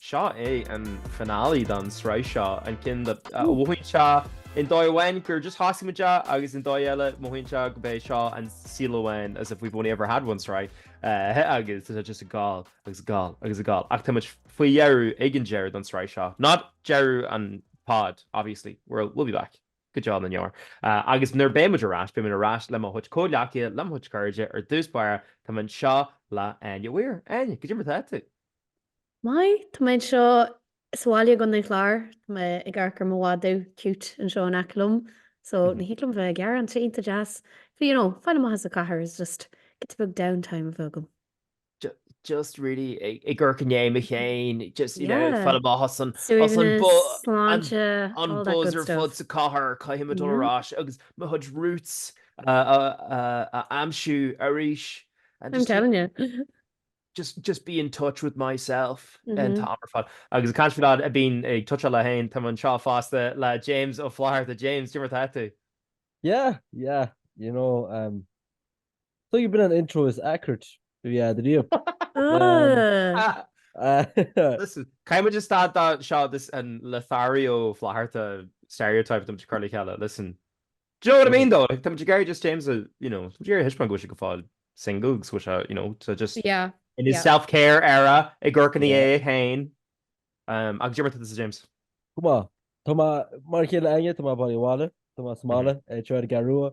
Seo é an finale don sraith seo, an ceann a mhothaíonn sé i ndóigh amháin gur just thosaigh muid é agus i ndóigh eile mothaíonn sé gurb é seo an saol amháin, as if we've only ever had one sraith, agus tá sé just ag dul agus ag dul agus ag dul. Ach tá muid faoi dheireadh, ag an deireadh don sraith seo, not deireadh an pod obviously, we'll be back, go deo na ndeor. Agus nuair beidh muid ar ais, beidh muid ar ais le mo chuid comhghleacaithe, le mo chuid cairde, ar dtús báire, táim anseo le hÁine Mhaoir. Áine, goidé mar tá tú! Maith, tá mé anseo sa bhaile i gContae an Chláir, tá mé ag amharc ar mo mhadadh cute anseo in aice liom, so ní thig liom bheith ag gearán tá sé iontach deas, but you know, fáil amach as an chathair is just giota beag down time a bheith agam. Just really ag amharc i ndéidh mé fhéin, just you know, fáil amach as an, as an bu-, Suaimhneas, sláinte, all that good stuff. an buzz ar fad sa chathair, caithfidh mé dul ar ais agus mo chuid roots a aimsiú arís and just. I'm telling you. just just be in touch with myself an t-am ar fad agus ag caint faoi leaid a bhíonn ag tuitseáil é féin táim anseo fosta le James Ó Flatharta. James, goidé mar tá tú? Yeah, yeah, you know, um, so you've been an intro is accurate do yeah do riamh. Listen, caithfidh muid just stad de seo, this an Lothario Flatharta stereotype tá muid ag cur le chéile, listen. Do you know what I mean though? Tá muid ag iarraidh just James a, you know, tá muid ag iarraidh a thaispeáint go bhfuil sé go fóill single agus go bhfuil sé, you know, tá just Yeah, in his yeah. self-care era, ag amharc i ndiaidh é Yeah. féin. Um, agus goidé mar tá tusa James. Go maith, tá mé mar a chéile Áine, tá mé bailithe abhaile, tá mé sa mbaile, eh, tráth ar an gCeathrú Rua,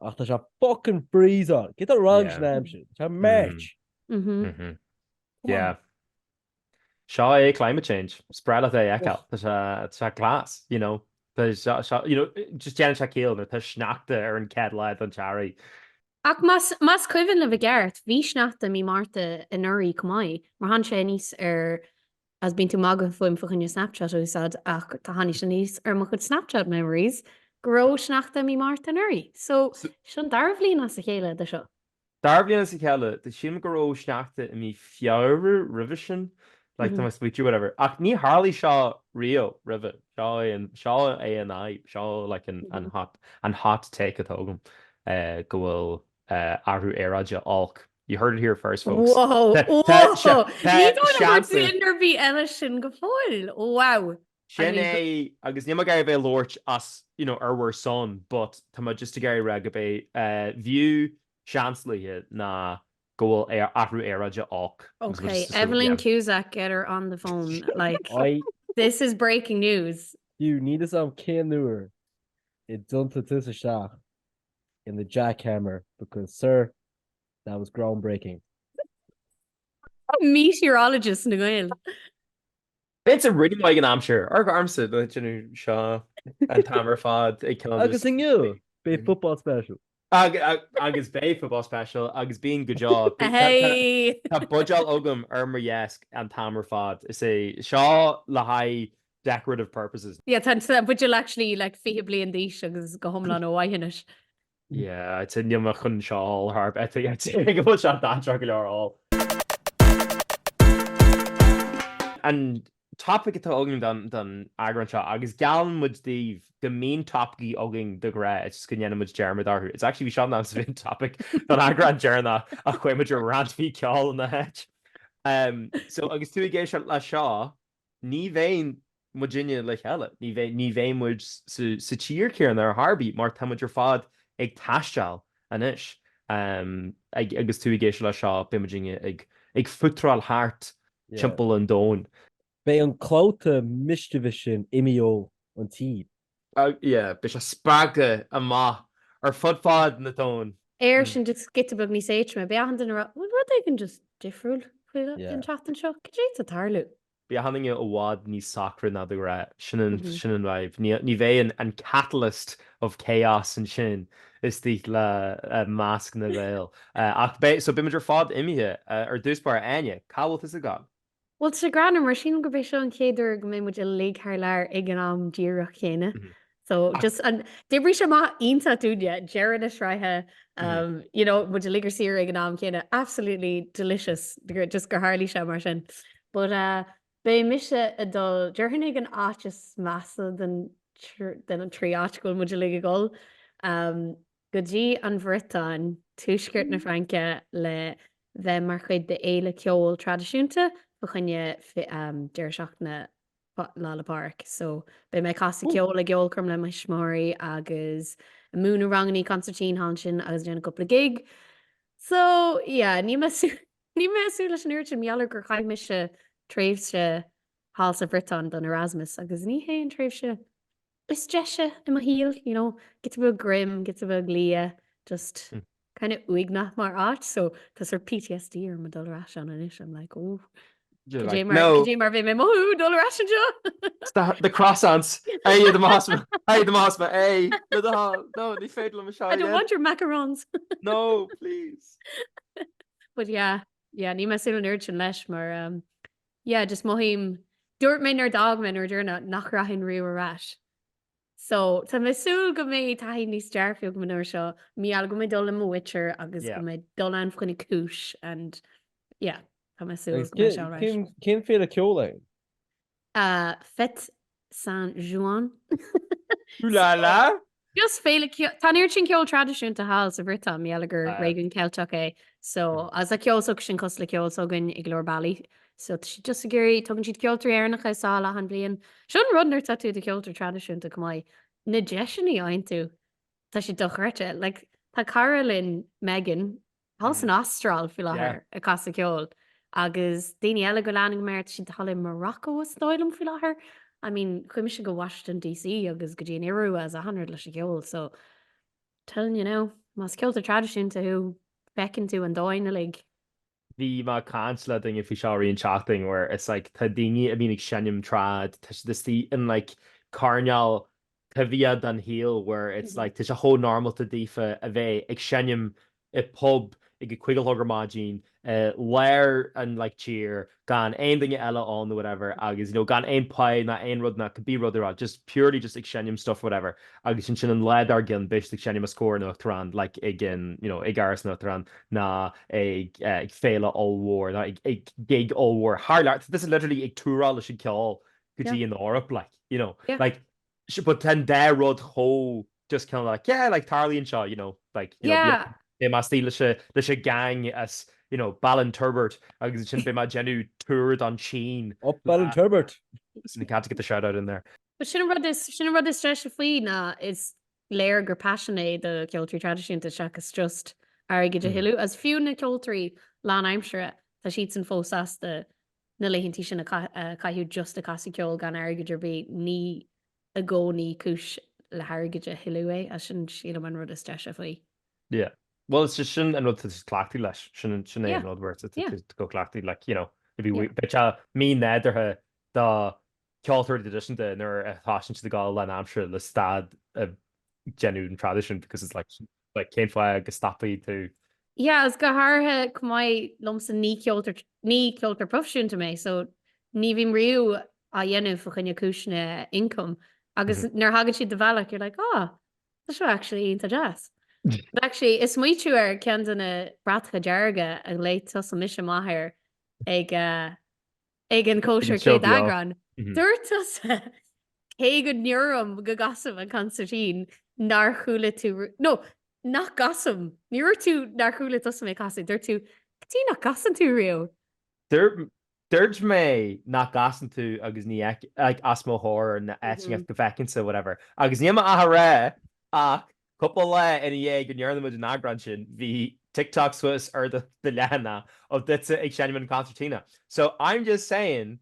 ach tá sé fucking freezing! Céard atá wrong Yeah. leis an aimsir? Tá sé March! Mhm. Mhm. Chomh maith. Yeah. Seo é climate change, is breá leat é a fheiceáil, tá sé, tá sé class, you know, tá sé, sé, you know, just déanann sé ciall nuair atá sneachta ar an gcéad lá den tEarrach. Ach más, más cuimhin libh i gceart, bhí sneachta mí Márta anuraidh chomh maith, mar tháinig sé aníos ar, agus bíonn tú magadh fúm fá choinne Snapchat a úsáid ach tá, tháinig sé aníos ar mo chuid Snapchat memories go raibh sneachta mí Márta anuraidh. So, seo an dara bhliain as a chéile de seo. Dara bliain as a chéile, tuigim go raibh sneachta i mí Feabhra roimhe sin, like time I spoke to you whatever, ach ní tharlaigh seo riamh roimhe, seo é an, seo é an fhadhb, seo like an, an hot, an hot take atá agam, go bhfuil athrú aeráide olc, you heard it here first folks. Wow! Wow! Ní dóigh liom gur dhúirt duine ar bith eile sin go fóill! Wow! Sin é, agus níl mé ag iarraidh a bheith ag labhairt as, you know, ar bhur son, but tá mé just ag iarraidh a rá gurb é do view seanbhunaithe ná go bhfuil athrú aeráide olc. Ok, Evelyn Cusack, get her on the phone, like, this is breaking news! Fiú, níl 'fhios a'm cén uair a d'iompaigh tusa isteach in the jackhammer because, sir, that was groundbreaking. Meteorologist na nGael! B'fhéidir a rinne mé ag an am sin, ar, ar mo sheal, déanann seo an t-am ar fad Agus inniu, beidh Football Special. Agus beidh Football Special agus bíonn go deo. Tá buidéal agam ar, ar mo dheasc an t-am ar fad, is é seo le haghaidh decorative purposes. Yeah, tá an buidéal actually like fiche bliain d'aois agus go hiomlán ó mhaith anois. Yeah, I'd say níl mé chun seo a ól ar chor ar bith, I'd say go bhfuil sé dainséarach go leor a ól. An topaic atá againn don eagrán seo, agus geallann muid daoibh go mbíonn topaicí againn de ghnáth is go ndéanann muid dearmad orthu, it's actually ba é seo an, seo an topaic don eagrán deireanach ach chuaigh muid ar rant faoi cheol ina háit. So agus tú ag éisteacht leis seo, ní bheidh muidinne le chéile, ní bheidh, ní bheidh muid sa tír céanna ar chor ar bith mar tá muid ar fad ag taisteáil anois ag, agus tú ag éisteacht leis seo beidh muidinne ag fútráil thart timpeall an domhain. Beidh an clabhta mischievous sin imithe ón tír. Beidh sé spréite amach ar fud fad an domhain. Éirinn just giota beag níos éatroma. Beidh achan duine ag rá, bhfuil rud éigin just difriúil faoi an tseachtain seo? Cad é atá ag tarlú? Beidh achan duine i bhfad níos socra ná de ghnáth. Sin an sin an vibe. Ní ní bheidh an an catalyst of chaos ansin istigh i measc na nGael. Ach beidh, so beidh muid ar fad imithe. Ar dtús báire, Áine, cá bhfuil tusa ag gabháil? Bhuel, tá sé greannmhar, mar sílim gurb é seo an chéad uair go mbeidh muid uilig thar lear ag an am díreach chéanna. So just an, d'oibrigh sé amach iontach dúinne, deireadh na sraithe, you know, muid uilig ar saoire ag an am céanna, absolutely delicious, just gur tharlaigh sé mar sin. But beidh mise ag dul, déarfainn ag an áit is measa den, den an trí áit go bhfuil muid uilig ag dhul. go dtí an Bhriotáin, tuaisceart na Fraince, le bheith mar chuid d'fhéile ceoil traidisiúnta fá choinne Deireadh Seachtaine Lá 'le Pádraig. So, beidh mé ag casadh ceoil i gceolchoirm le mo thuismitheoirí agus ag múineadh rangannaí consairtín thall ansin agus ag déanamh cúpla gig. So, yeah, níl mé súil, níl mé ag súil leis an oiread sin mar gheall gur chaith mise tréimhse thall sa Bhriotáin don Erasmus agus ní hé an tréimhse is deise i mo shaol, you know, gets a bit grim, gets a bit liath, just kind of uaigneach mar áit, so tá sort of PTSD orm ag dul ar ais ann anois, I'm like, oh. Cad é mar a bheidh mé ag mothú dul ar ais anseo? The croissants é iad an masmas é an masmas é no ní féidir liomsa. I don't want your macarons. No, please. But yeah, yeah, níl mé sin an urgent leis mar um, yeah just mothaím dúirt mé nuair d'fhág mé nuair dúirt mé nach rachainn riamh ar ais so tá mé ag súil go mbeidh taithí níos dearfaí agam an uair seo mar gheall go mbeidh mé ag dul le mo mhuintir agus go mbeidh mé ag dul ann fá choinne cúis and yeah tá mé ag súil go mbeidh sé alright cén féile ceol é? ah Fête San Juan. Ooh la la! Just féile ceoil, tá an oiread sin ceol traidisiúnta thall sa Bhriotáin, mar gheall gur Ah. réigiún Ceilteach é, so agus tá an ceol s'acusan cosúil le ceol s'againne i go leor bealaí. So tá siad just ag iarraidh, tugann siad ceoltóirí Éireannacha sall achan bhliain. Seo an rud nuair atá tú i do cheoltóir traidisiúnta, chomh maith, na deiseanna a fhaigheann tú, tá siad dochreidte. Like, tá cara linn, Megan, thall san Astráil faoi láthair ag casadh ceoil agus daoine eile go leanann mé iad, tá siad thall i Morocco is dóigh liom faoi láthair. I mean, chuaigh mise go Washington DC agus go dtí an Iorua is achan rud leis an gceol so telling you now, más ceoltóir traidisiúnta thú, feiceann tú an domhan uilig. Bhí mé ag caint le duine faoi seo i rith na seachtaine where it's like tá daoine a bhíonn ag seinm trad, tá siad istigh in like coirneál taibhseach den shaol where it's like tá sé chomh normálta daofa a bheith ag seinm i bpub ag a cúig a chlog ar maidin i lár an like tír gan aon duine eile ann or whatever agus you know gan aon pay ná aon rud ná could be rud ar bith just purely just ag seinm stuff whatever agus ansin an lá dár gcionn beidh siad ag seinm os comhair an Uachtaráin like ag an you know ag Áras an Uachtaráin ná ag ag féile ollmhór ná ag ag gig ollmhór thar lear nó tá siad literally ag túrá leis an gceol go dtí an Eoraip like, you know, like sure but tá an dá rud chomh just kind of like yeah like tarlaíonn seo, you know, like, you know, bhí mé ag stealladh leis an leis an gang as, you know, Ballinturbert agus ansin beidh mé ag déanamh tour don tSín. Up Ballinturbert! Listen, you have to get the shout out in there. But sin an rud is sin an rud is deise faoi ná is léir gur passion é do cheoltóirí traidisiúnta seachas just airgead a thuilleadh agus fiú na ceoltóirí lánaimseartha tá siadsan fós sásta na laethantaí sin a chaitheamh just ag casadh ceoil gan airgead ar bith, ní i gcónaí cúis le hairgead a thuilleadh é, is sin sílim an rud is deise faoi. Yeah, bhuel is é sin an rud is cleachtaithe leis, sin é an rud a bhfuil tú cleachtaithe like you know, bheadh sé mí-nádúrtha do cheoltóirí traidisiúnta nuair a thosaíonn siad ag gabháil lánaimseartha le stad a déanamh den traidisiún because it's like, But cén fáth go stopfaidh tú? Yeah, agus go háirithe chomh maith liomsa ní ceoltóir, ní ceoltóir proifisiúnta mé so ní bhím riamh á dhéanamh fá choinne cúiseanna income agus nuair thagann siad do bhealach you're like oh tá seo actually iontach deas. But actually is smaoitiú ar cheann de na bratacha dearga a léigh tusa mise maith air ag uh, ag an gcóisir céad eagrán, dúirt tusa, cé go ndeirim go gcasaim an consairtín, nár chuala tú, nó nach gcasaim, ní dúirt tú nár chuala tusa mé ag casadh, dúirt tú, díreach nach gcasann tú riamh. Dúirt mé nach gcasann tú agus ní fheiceann, like, os mo chomhair, nó áit inteacht go bhfeicinnse, whatever, agus níl mé ach ag rá ach Cúpla lá ina dhiaidh go ndearna muid an eagrán sin, bhí TikTok suas ar do leathanach of duitse ag seinm an concertina. So, I'm just saying,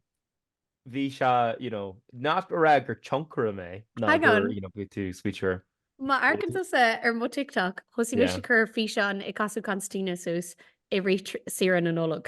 bhí sé, you know, not ag rá gur tionchaire mé ná Hang gur, on. you know, bhí tú smaoitiúil. Má amharcann tusa ar mo TikTok, thosaigh mise Yeah. ag cur físeán ag casadh concertina suas i rith saoire na Nollag.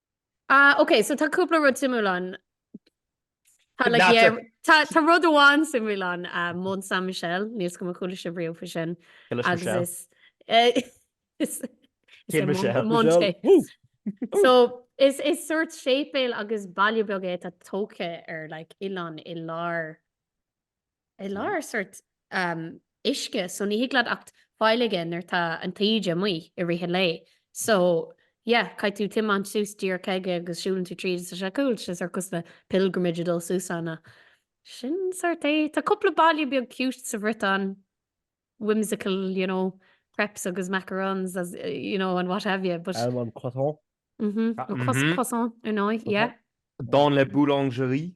Ah ok, so tá cúpla rud suimiúil ann. Tá like, yeah, tá, tá rud amháin suimiúil ann, uh, Mont Saint Michel, níl a fhios agam ar chuala sibh riamh fá sin. Agus is... Uh, is Cé Michel? Monte. so, is, is sort séipéal agus baile beag é atá tógtha ar like, oileán i lár i lár sórt uisce so ní thig leat acht fáil aige nuair atá an taoide amuigh i rith an lae so yeah caithfidh tú tiomáint suas díreach aige agus siúlann tú tríd is tá sé cool sé sórt cosúil le pilgrimage ag dul suas ann ach sin sórt é. Tá cúpla baile beag cute sa Bhriotáin whimsical you know crepes agus macarons as you know and what have you but Almond croissant. mhm Ah, cos mhm. croissant ar ndóigh yeah Dans la boulangerie.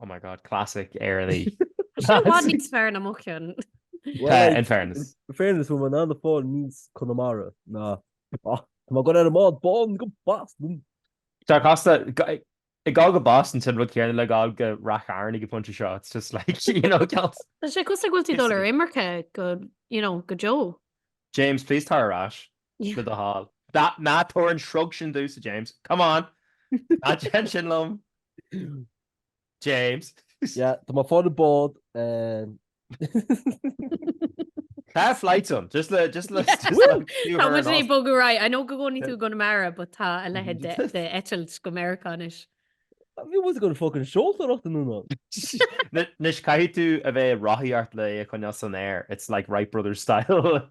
Oh my God, classic Éireannaí. Is é i bhfad níos fearr ná mo chionn. Well, in fairness. In fairness, an bhfuil muid in ann fáil níos Conamara ná Tá mé ag gabháil ar an mbád bán go Boston! Tá casta, ag gabháil go Boston, sin an rud céanna le gabháil go Rath Chairn ag an phointe seo, it's just like, you know, caillte. Tá sé cosúil go bhfuil tú ag dul ar imirce go, you know, go deo. James, please tar ar ais le do thoil. Ná tabhair an shrug sin domhsa, James. Come on! Ná déan sin liom! James. Yeah, tá mé fán an bhád. Tá flights ann, just le, just le, just le Woo! fiú Tá ar muid an ag os- bogadh right. I know go gcónaíonn tú i gConamara but tá a leithéid de de eitilt go Meiriceá anois. Bhí muid ag gabháil ag fucking seoltóireacht anonn. N- Anois caithfidh tú a bheith ag rothaíocht le é a choinneáil san aer, it's like Wright Brothers style.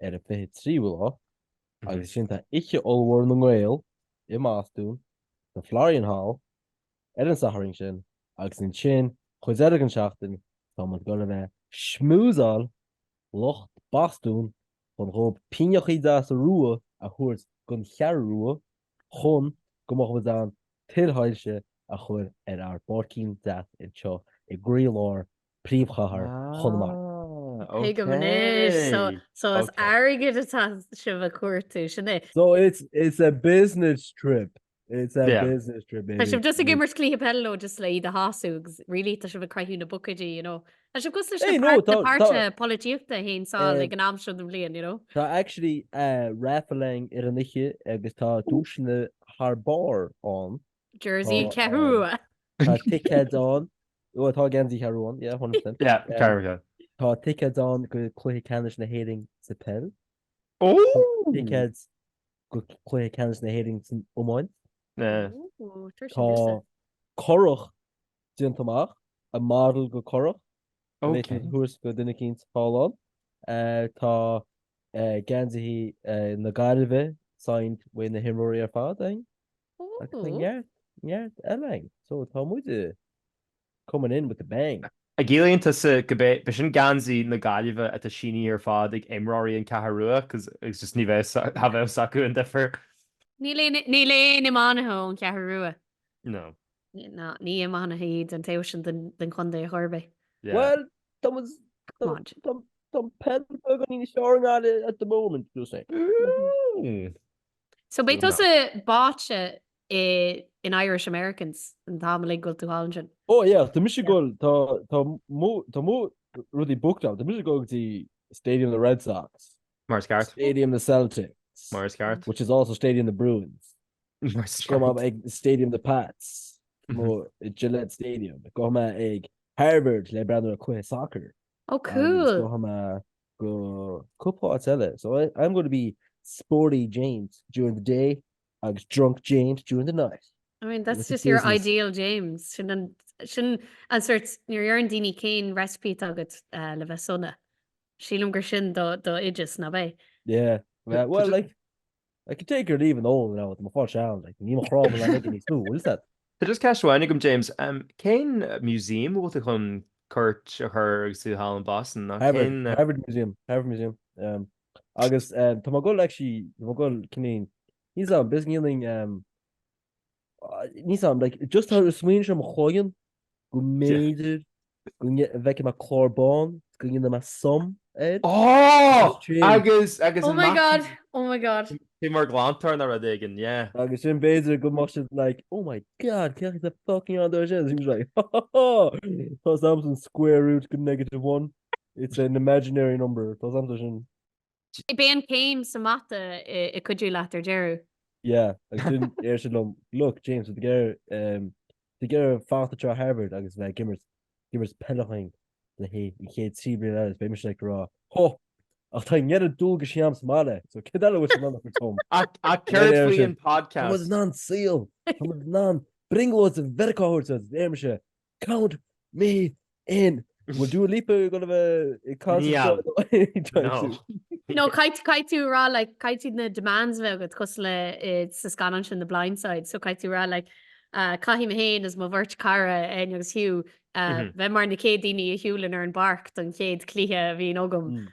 ar an 23ú lá agus ansin tá oíche ollmhór na nGael i mBostún sa Florian Hall ar an Satharn sin agus ansin chuid eile den tseachtain tá muid ag dul a bheith ag schmoozáil lucht Bostún chun dhóibh pínneachaí deasa rua a thabhairt don Cheathrú Rua chun go mbeadh muid in ann tuilsoilse a chur ar ár bpáircín deas anseo i gcroílár príomhchathair Chonamara. Ah, ok. Tuigim anois. So, so is Ok. airgead atá sibh a chuartú, sin é? So it's, it's a business trip. It's a Yeah. business trip, Tá baby. sibh just ag It's- imirt cluiche peile leo just le iad a shású agus really tá sibh ag craitheadh na buicéidí, you know. Tá sibh cosúil leis Hey, na no, páirt- na tá- páirtithe tá- polaitíochta a théann sall Eh, ag an am seo den bhliain, you know. Tá actually uh, raffling ar an oíche agus tá duaiseanna thar barr ann. Jersey Ceathrú Rua. Tá ticéid ann, bhuel tá geansaí Ceathrú Rua ann, yeah, 100%. Yeah, Ceathrú Rua. Tá ticéid ann go Cluiche Ceannais na hÉireann sa peil. Ooh! Tá ticéid go Cluiche Ceannais na hÉireann san iomáint. Yeah. Ooh, tabhair Tá sin liom-sa. currach déanta amach, a model de churrach, a bheidh siad ag tabhairt do dhuine éicint sa halla. Eh, tá eh, geansaithe eh, na Gaillimhe signed uaidh na himreoirí ar fad, I think. Agus tá neart, neart eile againn. So, tá muide coming in with a bang. An gciallaíonn tusa gurb é, b'é sin geansaí na Gaillimhe atá sínithe ar fad ag imreoirí an Cheathrú Rua because it's just ní bheidh, cha bheidh a fhios acu an difear. Níl aon, níl aon iománaithe ón Cheathrú Rua. No. Ní, ná, ní iománaithe iad an taobh sin den, den chontae ar chor ar bith. Yeah. Well, tá muid, tá, Come on. tá, tá peil beag in Inis Eoghain at the moment, just saying. Mm. So beidh tusa báite in Irish Americans an t-am uilig go bhfuil tú thall ansin. Ó yeah, tá mise ag dul, tá mo rudaí booked agam, tá mise go dtí Stadium the Red Sox. Mar is ceart. Stadium the Celtics. Mar is ceart. Which is also Stadium the Bruins. Mar is ceart. Gabhfaidh mé ag Stadium the Pats. Nó Gillette Stadium. Gabhfaidh mé ag Harvard le breathnú ar chluiche soccer. Oh cool. Gabhfaidh mé go cúpla áit eile, so I am going to be sporty James during the day agus drunk James during the night. I mean that's just your ideal James, sin an sin an sórt nuair a deireann daoine cén recipe atá agat le bheith sona, sílim gur sin do do oideas, nab é? Yeah, well like I can take or leave an ól now, tá mo pháiste ann, like, níl mo chrá mná aige níos lú, is that? Tá just ceist amháin agam James, cén museum a bhfuil tú chun cuairt a chur agus tú thall in Boston nó cén. Harvard Museum, Harvard Museum, agus tá mé ag dul actually, tá mé ag dul, ceannaíonn, níl a fhios agam, basically ceannaíonn Níl fhios agam, just tá smaoineamh i mo chloigeann go mb'fhéidir go bhfeicfidh mé clár bán go ndéanfaidh mé sum air agus agus oh my god oh my god Beidh mé mar glantóir nó rud éigin, yeah. Agus ansin b'fhéidir go mbeadh siad like, oh my god, cé a fucking rinne sin? He was like, ha ha ha! Tá 's agamsa an square root de negative one. It's an imaginary number. Tá 's agamsa sin. Cibé an céim sa mata a cuideoidh leat ar deireadh thiar. Yeah, agus ansin ar siad liom, look, James, tú ag iarraidh, tú ag iarraidh fanacht ag try-áil Harvard agus bheith ag imirt, ag imirt peil dúinn le haghaidh an chéad trí bliana eile, is beidh mise ag rá, hó, ach tá an oiread dualgais agam sa mbaile, so céard eile a bhfuil sibh in ann a thabhairt dom? Ach, ach céard faoi an podcast? Tá muid in ann saol, tá muid in ann brionglóid Mheiriceá a thabhairt dhuit, is deir mise, Count me in! Bhfuil Dua Lipa ag goil a bheith ag an gconcert? No. No, caithfidh caithfidh tú a rá like caithfidh tú na demands a bheith agat cosúil le i sa scannán sin The Blind Side so caithfidh tú a rá like ah, caithfidh mé féin is mo bheirt cara Eoin agus Hugh ah, Mhm. bheith mar na chéad daoine a shiúlann ar an bpáirc don chéad chluiche a bhíonn agam. Mm.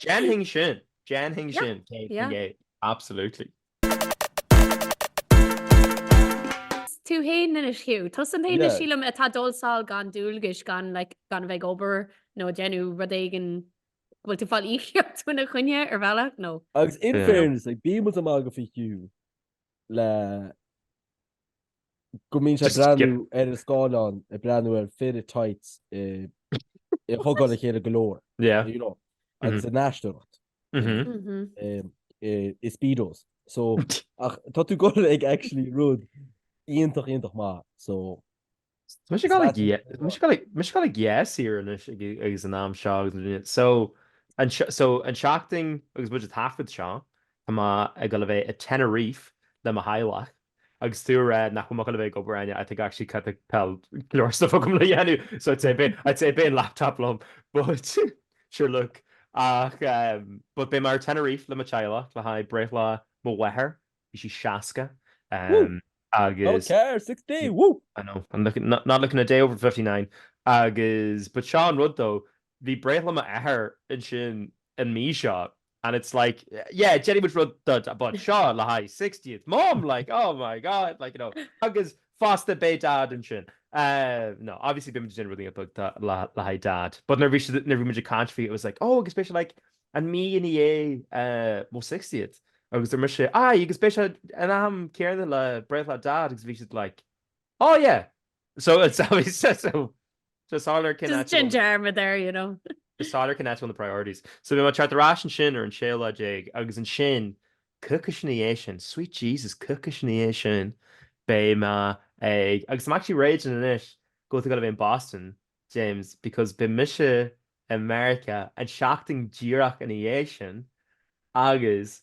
Déanfainn sin, déanfainn sin, 100%, absolutely. Is tú fhéin anois Hugh. Tusa an t-aon duine, sílim, atá ag dul sall gan dualgais, gan a bheith ag obair nó ag déanamh rud éigin. Bhfuil tú fáil íocaíocht faoina choinne ar bhealach nó? Agus in fairness, like bímid ag magadh faoi Hugh le go mbíonn sé ag breathnú ar an scáileán, ag breathnú ar fir i tights, ag thug-áil a chéile go leor, you know, agus ag aisteoireacht, i speedos. So, ach tá tú ag goil ag actually rud iontach, iontach maith, so. Tá mise ag goil ag, mise ag goil ag, mise ag goil ag, yes here anois agus an am seo agus na daoine. So, an, so, an tseachtain agus muid ag taifead seo, tá mé ag dul a bheith i Tenerife le mo theaghlach. agus tú ag rá nach bhfuil mé ag goil a bheith ag obair ann, I think actually go dtarlaíonn go bhfuil go leor stuff agam le dhéanamh so I'd say beidh I'd say beidh an laptop liom but sure look ach ehm but beidh mé i Tenerife le mo theaghlach le haghaidh breithlá mo mháthar, bhí sí 60 ehm agus okay 60 woo I know I'm looking not not looking a day over fifty nine agus but seo an rud though bhí breithlá m'athar ansin an mhí seo and it's like yeah déanfaidh muid rud éigin about seo le haghaidh sixtieth mom like oh my god like you know agus fosta beidh dad ansin uh, no obviously bhí muid déanamh rudaí beaga le haghaidh dad but nuair bhí nuair bhí muid ag caint faoi it was like oh agus beidh sé like an mhí ina dhiaidh uh, mo sixtieth agus dúirt mise aye agus beidh sé an t-am céanna le breithlá dad agus bhí siad like Oh yeah! So it's always so just holler cinn Just aitiúil genderma there, you know. just holler cinn aitiúil na priorities. So beidh mé ag teacht ar ais ansin ar an séú lá déag agus ansin, coicís ina dhiaidh sin, sweet Jesus, coicís ina dhiaidh sin, beidh mé ag, agus I'm actually raging anois go bhfuil tú ag dul a bheith in Boston, James, because beidh mise i Meiriceá an seachtain díreach ina dhiaidh sin agus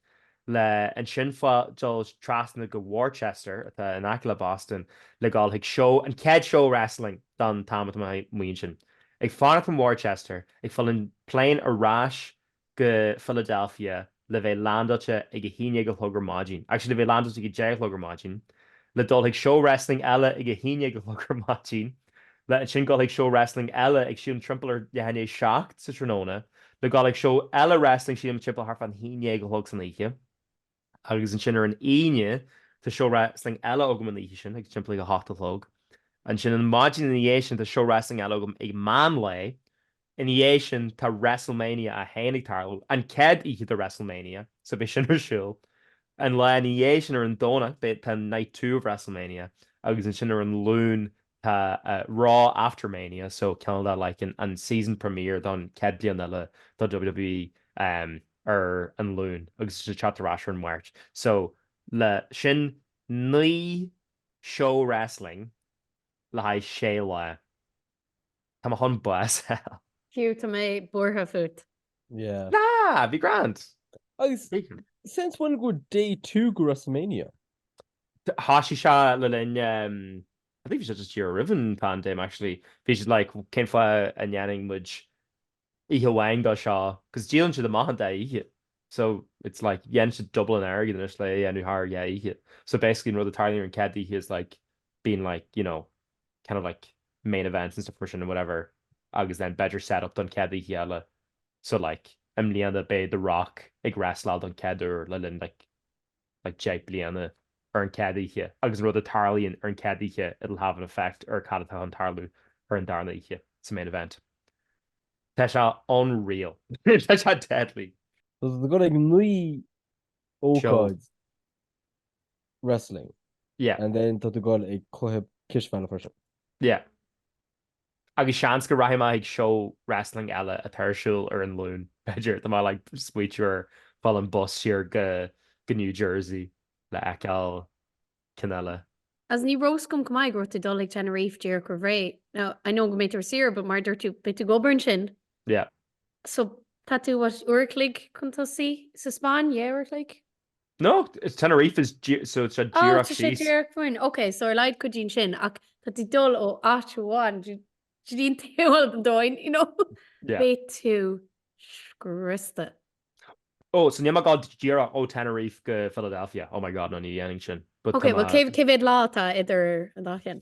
le ansin fá dhul trasna go Worcester, atá in aice le Boston, le dhul chuig seó, an chéad seó wrestling don t-am atá mé ansin. Ag fanacht in Worcester, ag fáil an plane ar ais go Philadelphia le bheith landáilte ag a haon déag a chlog ar maidin, actually le bheith landáilte ag a deich a chlog ar maidin, le dhul chuig seó wrestling eile ag a haon déag a chlog ar maidin, Le ansin dhul chuig seó wrestling eile ag sílim timpeall ar leath i ndiaidh a seacht sa tráthnóna. Le dhul chuig seó eile wrestling sílim timpeall thart fán haon déag a chlog san oíche. Agus ansin ar an Aoine tá seó wrestling eile agam an oíche sin ag timpeall ag a hocht a chlog. Ansin an maidin ina dhiaidh sin tá seó wrestling eile agam ag meán lae. Ina dhiaidh sin tá WrestleMania 1 ag tarlú, an chéad oíche de WrestleMania, so beidh sin ar siúl. An lá ina dhiaidh sin ar an Domhnach beidh, tá Night Two of WrestleMania agus ansin ar an Luan tá Raw After Mania, so ceann de like an season premiere don chéad bliain eile do WWE ar an Luan agus ansin teacht ar ais ar an Máirt. So leis sin naoi show wrestling le haghaidh sé lá. Tá tú chun bás a fháil. Hugh, tá mé buartha fút. Yeah. Nah, be grand! Agus since when go day two go WrestleMania? Thosaigh sé le linn, I think bhí sé just díreach roimh an paindéim actually, bhí siad like cén fáth a ndéanann muid oíche amháin de seo cause díolann siad amach an dá oíche so it's like dhéanann siad double an airgead anois le é a dhéanamh thar dhá oíche so basically an rud a tarlaíonn ar an chéad oíche is like bíonn like you know kind of like main events and stuff mar sin and whatever agus then b'fhéidir set up don chéad oíche eile so like i mbliana beidh The Rock ag wrestláil don chéad uair le linn like like deich bliana ar an chéad oíche agus an rud a tarlaíonn ar an chéad oíche it'll have an effect ar cad atá chun tarlú ar an darna oíche sa main event. Tá sé unreal. Tá sé deadly. So tá tú ag dul ag naoi ócáid wrestling. Yeah. And then tá tú ag dul ag cluiche cispheile freisin? Yeah. Agus seans go rachaidh mé ag seó wrestling eile atá ar siúl ar an Luan, b'fhéidir, tá mé like smaoitiú ar fáil an bus siar go New Jersey le fheiceáil ceann eile. Agus ní raibh fhios agam chomh maith go raibh tú ag dul ag Tenerife díreach roimh ré, now I know go mbeidh tú ar saoire but mar a dúirt tú, beidh tú ag obair ansin. Yeah. So tá tú what, uair a chloig chun tosaigh sa Spáinn, yeah uair a chloig? No, Tenerife is so tá sé díreach síos. Tá sé díreach fúinn. Ok, so ar laghad cuidíonn sin ach tá tú ag dul ó áit amháin go dtí an taobh eile den domhain, you know? Yeah. Beidh tú scriosta. Oh, so níl mé ag gabháil díreach ó Tenerife go Philadelphia. Oh my God, no, ní dhéanfainn sin. But tá Ok, mé. well cá mhéad lá atá idir an dá cheann?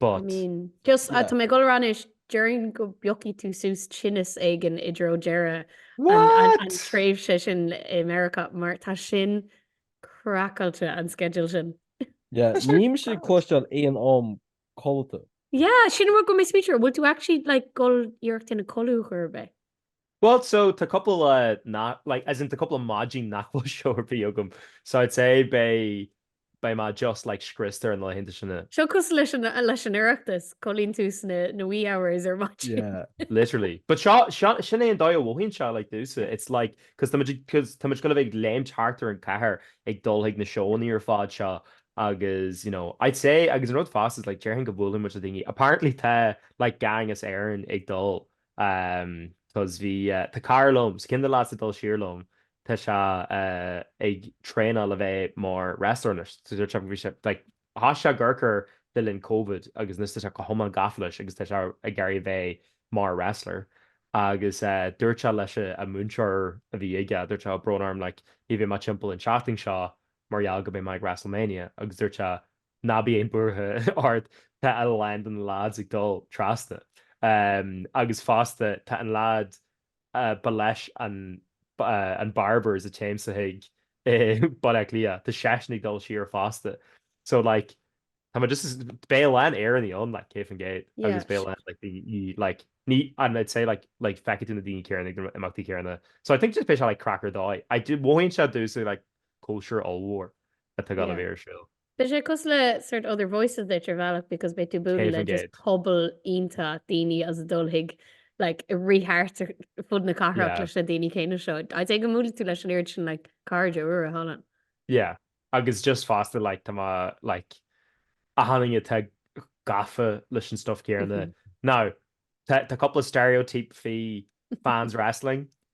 but. Just, tá mé ag dul ar ais anois, déarfainn go bpiocfaidh tú suas tinneas éigin i dtreo deireadh an tréimhse sin i Meiriceá mar tá sin craiceáilte, an sceideal sin. Yeah, níl mise ag cloisteáil aon am codlata. Yeah, sin an rud a raibh mé ag smaointiú air, bhfuil tú actually like ag dul iarracht a dhéanamh codladh ar chor ar bith? Bhuel, so, tá cúpla lá nach, like, as in, tá cúpla maidin nach bhfuil seó ar bith agam, so I'd say beidh, beidh mé just, like, scriosta ar na laethanta sin. Seo cosúil leis an, leis an Oireachtas, codlaíonn tú sna, na wee hours ar maidin. Yeah, literally. But seo, seo, sin é an dóigh a mhothaíonn sé, like, domhsa, it's like, cos tá muid ag, cos tá muid gonna bheith ag léimt thart ar an chathair ag dul chuig na seóannaí ar fad seo agus, you know, I'd say, agus an rud fosta is like, déarfainn go mbuaileann muid le daoine, apparently tá, like, gang as Éirinn ag dul, cos bhí, tá cara liom, so ceann de na lads atá ag dul siar liom, tá sé ag traenáil le bheith mar wrestler anois, so dúirt sé, like thosaigh sé go gearr le linn Covid agus anois tá sé go hiomlán gafa leis agus tá sé ag iarraidh bheith mar wrestler agus dúirt sé leis an múinteoir a bhí aige, dúirt sé, oh tá brón orm, like ní bheidh mé timpeall an tseachtain seo mar gheall go mbeidh mé ag WrestleMania agus dúirt sé. Ná bíodh aon buaireamh ort, tá a lán de na leaids ag dul trasna. Agus fosta, tá an leaid ar leis an barbers a dtéimse chuige i mBaile Átha Cliath, tá seisean ag dul siar fosta. So like, tá muid just, beidh a lán Éireannaigh ann like, cé bith an gate agus beidh a lán like, daoine like, ní, and I'd say like, like feicfidh tú na daoine céanna ag na himeachtaí céanna. So I think just beidh sé like craic ar dóigh. I dunno, mothaíonn sé domhsa like, cóisir ollmhór atá ag gabháil a bheith ar siúl. Beidh sé cosúil le sort Other Voices duit ar bhealach because beidh tú ag bualadh le just 100%. pobal iontach daoine as an dúiche like ag rith thart ar fud na cathrach Yeah. leis na daoine céanna seo. I'd say go mbuailfidh tú leis an oiread sin like cairde úra thall ann. Yeah, agus just fosta like tá mé like ag fáil daoine atá gafa leis an stuff céanna. Now, tá tá cúpla stereotype faoi fans wrestling.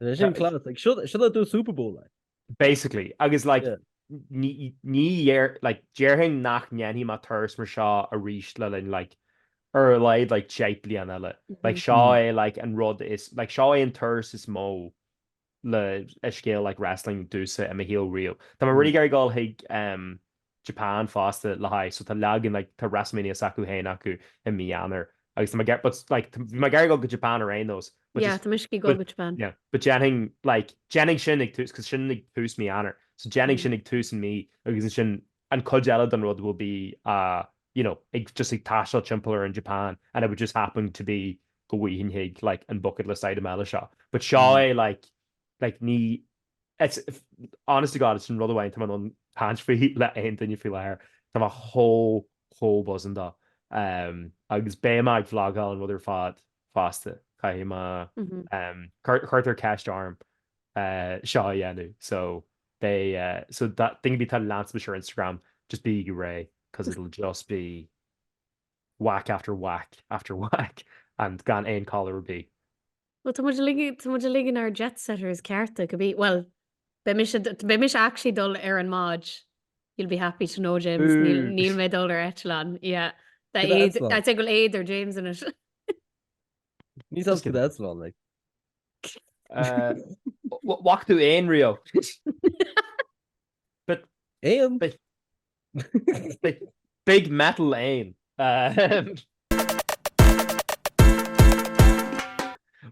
Is é sin class, like, seo, seo le do Super Bowl, like. Basically, agus, like, Yeah. ní, ní dhéar, like, déarfainn nach ndéanfaidh mé turas mar seo arís le linn, like, ar a laghad, like, deich bliana eile. Like, seo é, like, an rud is, like, seo é an turas is mó le, le scéal, like, wrestling domhsa i mo shaol riamh. Tá mé Mm. really ag iarraidh dul chuig, em, Japan fosta le haghaidh, so tá leagan like, tá Wrestlemania s'acu féin acu i mí Eanáir agus tá mé ag, but like, tá, bhí mé ag iarraidh dul go Japan ar aon nós, but Yeah, just, tá mise ag dul go Japan. yeah, but déanfainn like, déanfainn sin ag tús, cause sin ag tús mí Eanáir, so déanfainn sin ag tús an mí agus ansin an cuid eile den rud will be ah, you know, ag just ag taisteal timpeall ar an Japan and it would just happen to be go bhfaighfinn chuig like an bucket list item eile seo, but seo é like, like ní, It's, honest to God, sin rud amháin atá mé in ann caint faoi le aon duine faoi láthair, tá mé chomh, chomh buzzing dó. Agus beidh mé ag vlagáil an rud ar fad fosta, caithfidh mé, cuirtear ceist orm seo a dhéanamh so beidh, so duine ar bith atá ag leanstan mise ar Instagram, just bígí réidh cos it'll just be whack after whack after whack and gan aon collar ar bith. Bhuel, tá muid uilig, tá muid uilig in ár jetsetters cearta, go bí, bhuel, beidh mise, beidh mise actually dul ar an mbád, you'll be happy to know, James, níl, níl mé dul ar eitleán, yeah, tá Cad é, eitleán? tá, té go bhfuil éad ar James ansin. Níl a fhios aige cad é eitleán, like. Eh, bh- bh- bhfaca tú éan riamh. Éan. Big metal éan.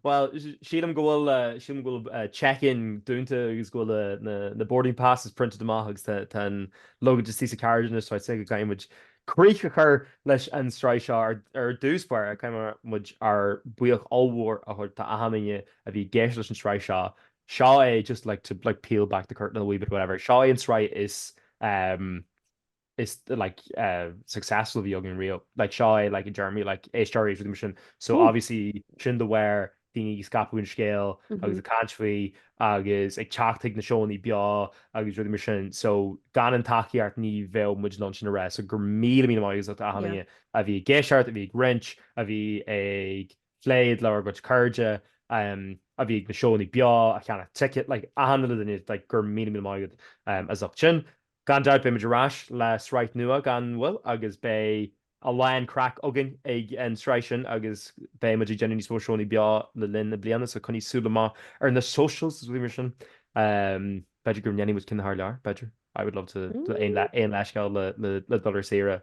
Bhuel, sílim go bhfuil, sílim go bhfuil check-in dúnta agus go bhfuil na, na boarding passes printed amach agus tá, tá an luggage istigh sa carriage anois so I'd say go gcaithfidh muid críoch a chur leis an sraith seo. Ar, ar dtús báire, caithfidh muid ár buíoch ollmhór a thabhairt do achan duine a bhí i gceist leis an sraith seo, Seo é, just like to like peel back the curtain a wee bit, whatever, seo é an tsraith is ehm is like eh successful a bhí againn riamh, like seo é like i dtéarmaí like éisteoirí agus rudaí mar sin. So obviously sin de bharr daoine ag scaipeadh an scéil agus ag caint faoi agus ag teacht chuig na seónna beo agus rudaí mar sin. So gan an tacaíocht ní bheadh muid in ann sin a rá, so go raibh míle míle maith agat as ucht achan duine a bhí i gceist, a bhí ag roinnt, a bhí ag. plé le bhur gcuid cairde a bhí ag na seónna beo, a cheannaigh ticket, a tháinig le duine, go raibh míle míle maith agat as ucht sin. Gan dabht beidh muid ar ais le sraith nua gan mhoill agus beidh a lán craic againn ag an tsraith sin agus beidh muid ag déanamh níos mó seónna beo le linn na bliana so coinnigh súil amach ar na socials is rudaí mar sin. B'fhéidir go ndéanfaidh muid ceann thar lear, b'fhéidir. I would love to do aon leithscéal le dul ar saoire.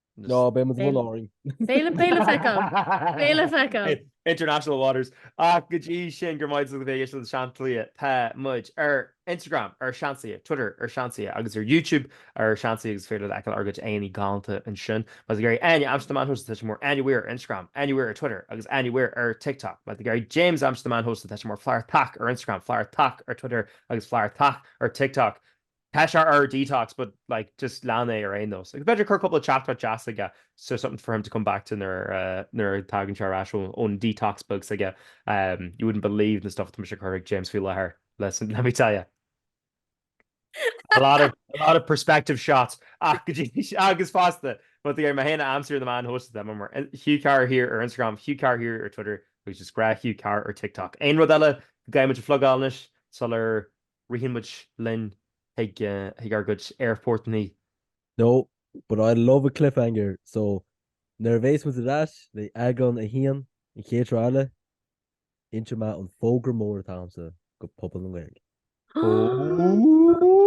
Ná beidh muid amuigh orainn. Féile, féile feiceáil! Féile feiceáil! International waters. Ach go dtí sin, go raibh maith agat as a bheith ag éisteacht le Seansálaithe, tá muid ar Instagram ar Seansálaithe, Twitter ar Seansálaithe agus ar YouTube ar Seansálaithe agus is féidir leat fheiceáil ár gcuid aghaidheanna galánta ansin. Má tá tú ag iarraidh Áine Amsterdam an host tá sí mar Áine Weir ar Instagram, Áine Weir ar Twitter agus Áine Weir ar TikTok. Má tá tú ag iarraidh James Amsterdam an host tá sé mar Flartach ar Instagram, Flartach ar Twitter agus Flartach ar TikTok. Tá sé ar detox but like just lean é ar aon nós. Agus b'fhéidir cur cúpla teachtaireacht deas aige so something for him to come back to nuair a thagann sé ar ais ón detox beag s'aige. You wouldn't believe the stuff atá mise ag cur chuig James faoi láthair, let me tell you. A lot of a lot of perspective shots ach go dtí seo agus fosta más mé féin ab ansa libh ann, tá mé ar Hugh Carr here ar Instagram, Hugh Carr here ar Twitter agus is grá Hugh Carr ar TikTok. Aon rud eile go gcaithfidh muid a phlugáil anois sular Ritheann muid linn chuig ár gcuid aerfort-naí. No, but I love a cliffhanger, so nuair a bhéas muid ar ais le eagrán a haon an chéad sraith eile, inseoidh mé an fógra mór atá agamsa go pobal na Gaeilge. Ooooooo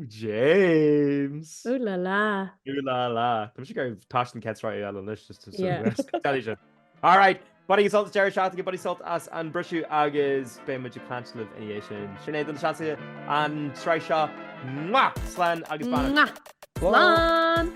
James! Ooh la la. Ooh la la. Tá mise ag éirí as an chéad sraith eile anois. Yeah. Scaití sin. Alright, bainigí sult as an deireadh seachtaine, bainigí sult as an briseadh agus beidh muid ag caint libh ina dhiaidh sin. Sin é do na Seansálaithe an tsraith seo, mwah! Slán agus beannacht. Mwah! Slán!